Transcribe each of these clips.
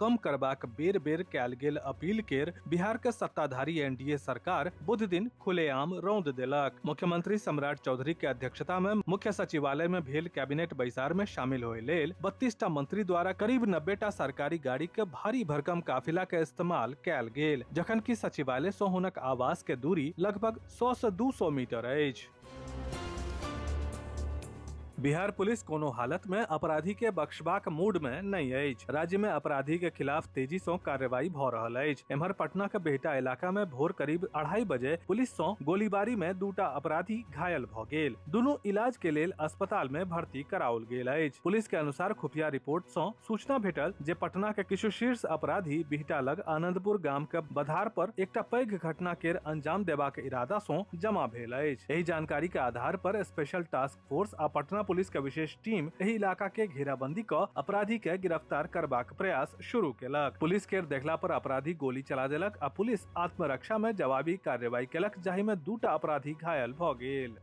कम करबाक बेर बेर कयल गेल अपील केर बिहार के सत्ताधारी एनडीए सरकार बुध दिन खुलेआम रौंद देलक मुख्यमंत्री सम्राट चौधरी के अध्यक्षता में मुख्य सचिवालय में भेल कैबिनेट बैसार में शामिल होए लेल बत्तीस टा मंत्री द्वारा करीब नब्बे टा सरकारी गाड़ी के भारी भरकम काफिला के इस्तेमाल कयल गेल जखन कि सचिवालय से हुनक आवास के दूरी लगभग सौ से दू सौ मीटर अछि बिहार पुलिस कोनो हालत में अपराधी के बख्शबाक मूड में नहीं अछि राज्य में अपराधी के खिलाफ तेजी से कार्रवाई भ रहल अछि एम्हर पटना के बेहटा इलाका में भोर करीब अढ़ाई बजे पुलिस से गोलीबारी में दूटा अपराधी घायल भ गेल दुनू इलाज के लेल अस्पताल में भर्ती कराओल गेल अछि पुलिस के अनुसार खुफिया रिपोर्ट से सूचना भेटल जे पटना के किछु शीर्ष अपराधी बिहटा लग आनंदपुर गाम के बधार पर एकटा पैघ घटना के अंजाम देबाक इरादा से जमा भेल भेल अछि एहि जानकारी के आधार पर स्पेशल टास्क फोर्स आ पटना पुलिस के विशेष टीम एहि इलाका के घेराबंदी क अपराधी के गिरफ्तार करबाक प्रयास शुरू केलक पुलिस के देखला पर अपराधी गोली चला देलक आ पुलिस आत्मरक्षा में जवाबी कार्रवाई केलक जाहि में दूटा अपराधी घायल भ गेल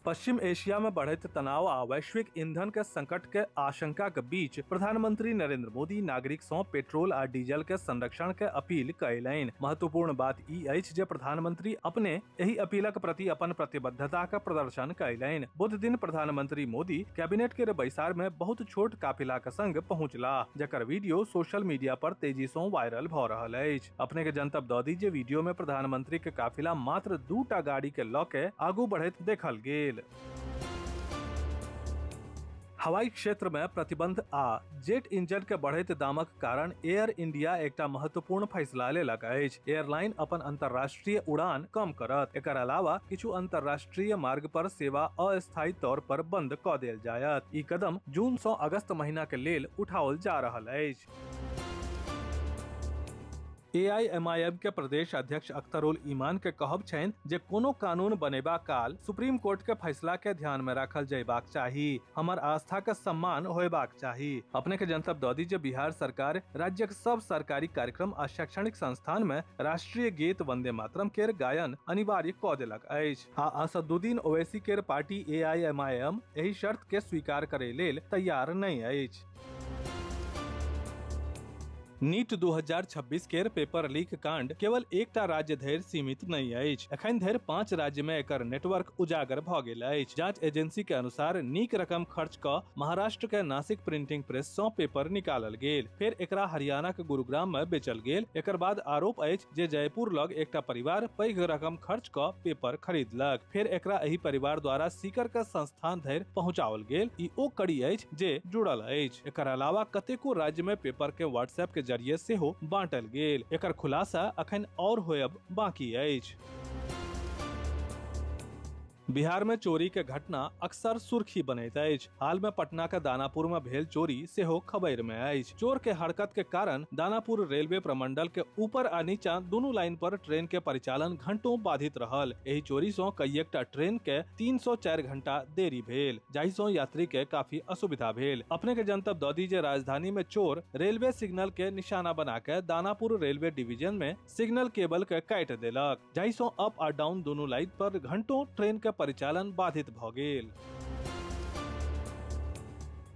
पश्चिम एशिया में बढ़ैत तनाव आ वैश्विक ईंधन के संकट के आशंका के बीच प्रधानमंत्री नरेंद्र मोदी नागरिक सं पेट्रोल आ डीजल के संरक्षण के अपील कयलनि महत्वपूर्ण बात ई अछि जे प्रधानमंत्री अपने एहि अपीलक प्रति अपन प्रतिबद्धता के प्रदर्शन कयलनि बुध दिन प्रधानमंत्री मोदी कैबिनेट के बैसार में बहुत छोट काफिला के संग पहुंचला जकर वीडियो सोशल मीडिया पर तेजी सं वायरल भ रहल अछि अपने के जनतब दऽ दी जे वीडियो में प्रधानमंत्री के काफिला मात्र दू टा गाड़ी के लऽ के आगू बढ़ैत देखल गेल हवाई क्षेत्र में प्रतिबंध आ जेट इंजन के बढ़ैत दामक कारण एयर इंडिया एकटा महत्वपूर्ण फैसला लेलक अछि एयरलाइन अपन अंतर्राष्ट्रीय उड़ान कम करत एकर अलावा किछु अंतर्राष्ट्रीय मार्ग पर सेवा अस्थायी तौर पर बंद क देल जायत ई कदम जून सँ अगस्त महीना के लेल उठाओल जा रहल अछि एआईएमआईएम के प्रदेश अध्यक्ष अख्तरुल ईमान के कहब छनि जे कोनो कानून बनेबा काल सुप्रीम कोर्ट के फैसला के ध्यान में राखल जयबाक चाही हमर आस्था के सम्मान होयबाक चाही अपने के जनतब दऽ दी जे बिहार सरकार राज्यक सब सरकारी कार्यक्रम आ शैक्षणिक संस्थान में राष्ट्रीय गीत वंदे मातरम केर गायन अनिवार्य कऽ देलक अछि आ असदुद्दीन ओवैसी केर पार्टी एआईएमआईएम एहि शर्त के स्वीकार करय लेल तैयार नहि अछि नीट 2026 केर पेपर लीक कांड केवल एकटा राज्य धरि सीमित नहि अछि एखन धरि पांच राज्य मे एकर नेटवर्क उजागर भऽ गेल अछि जांच एजेंसी के अनुसार नीक रकम खर्च क महाराष्ट्र के नासिक प्रिंटिंग प्रेस सं पेपर निकालल गेल फेर एकरा हरियाणा के गुरुग्राम मे बेचल गेल एकर बाद आरोप अछि जे जयपुर लग एकटा परिवार पैघ रकम खर्च क पेपर खरीदलक फेर एकरा एहि परिवार द्वारा सीकर के संस्थान धरि पहुंचाओल गेल ई ओ कड़ी अछि जे जुड़ल अछि एकर अलावा कतेको राज्य में पेपर के व्हाट्सएप के जरिए सेहो बांटल गेल एकर खुलासा अखन और होयब बाकी अछि बिहार में चोरी के घटना अक्सर सुर्खी बनैत अछि हाल में पटना के दानापुर में भेल चोरी सेहो खबर में अछि चोर के हरकत के कारण दानापुर रेलवे प्रमंडल के ऊपर आ नीचा दुनू लाइन पर ट्रेन के परिचालन घंटों बाधित रहल एहि चोरी सं कईएकटा ट्रेन के 304 घंटा देरी भेल जाहि सं यात्री के काफी असुविधा भेल अपने के जनतब द दी जे राजधानी में चोर रेलवे सिग्नल के निशाना बना के दानापुर रेलवे डिवीजन में सिग्नल केबल के काटि देलक जाहिसँ अप आ डाउन दुनू लाइन पर घंटों ट्रेन के परिचालन बाधित भऽ गेल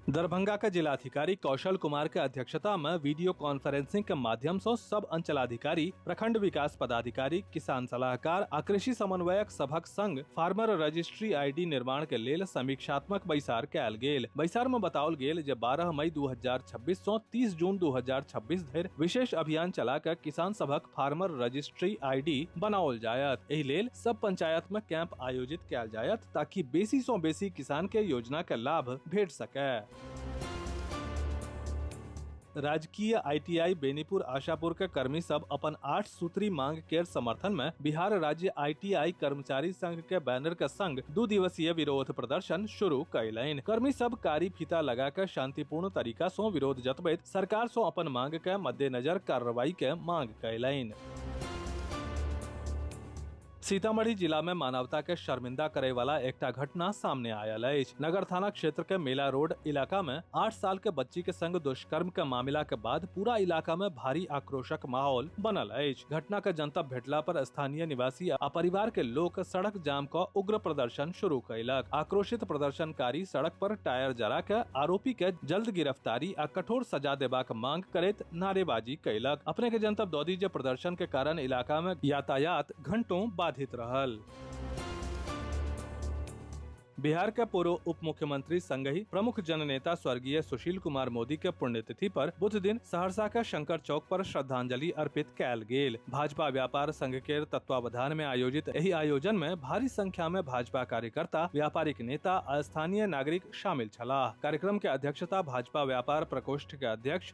दरभंगा के जिलाधिकारी कौशल कुमार के अध्यक्षता में वीडियो कॉन्फ्रेंसिंग के माध्यम से सब अंचलाधिकारी प्रखंड विकास पदाधिकारी किसान सलाहकार आ कृषि समन्वयक सभक संग फार्मर रजिस्ट्री आईडी निर्माण के लेल समीक्षात्मक बैसार कयल गेल बैसार में बताओल गेल जे 12 मई 2026 छब्बीस सौ तीस जून 2026 धरि विशेष अभियान चला के किसान सभक फार्मर रजिस्ट्री आईडी बनाओल जायत एहि लेल सब पंचायत में कैंप आयोजित कैल जायत ताकि बेसी सौ बेसी किसान के योजना के लाभ भेट सके राजकीय आईटीआई बेनीपुर आशापुर के कर्मी सब अपन आठ सूत्री मांग केर समर्थन में बिहार राज्य आईटीआई कर्मचारी संघ के बैनर के संग दू दिवसीय विरोध प्रदर्शन शुरू कयलनि कर्मी सब कारी फीता लगा के शांतिपूर्ण तरीका से विरोध जतबैत सरकार से अपन मांग के मद्देनजर कार्रवाई के मांग कयलनि सीतामढ़ी जिला में मानवता के शर्मिंदा करे वाला एकटा घटना सामने आयल अछि नगर थाना क्षेत्र के मेला रोड इलाका में आठ साल के बच्ची के संग दुष्कर्म के मामला के बाद पूरा इलाका में भारी आक्रोशक माहौल बनल अछि घटना के जनता भेटला पर स्थानीय निवासी आ परिवार के लोग सड़क जाम क उग्र प्रदर्शन शुरू कयलक आक्रोशित प्रदर्शनकारी सड़क पर टायर जरा के आरोपी के जल्द गिरफ्तारी आ कठोर सजा देबाक मांग करैत नारेबाजी कैलक अपने के जनतब दौदी जे प्रदर्शन के कारण इलाका में यातायात घंटों बाधित रहल बिहार के पूर्व उप मुख्यमंत्री संग ही प्रमुख जननेता स्वर्गीय सुशील कुमार मोदी के पुण्यतिथि पर बुध दिन सहरसा के शंकर चौक पर श्रद्धांजलि अर्पित कैल गेल भाजपा व्यापार संघ के तत्वावधान में आयोजित एहि आयोजन में भारी संख्या में भाजपा कार्यकर्ता व्यापारिक नेता आ स्थानीय नागरिक शामिल छलाह कार्यक्रम के अध्यक्षता भाजपा व्यापार प्रकोष्ठ के अध्यक्ष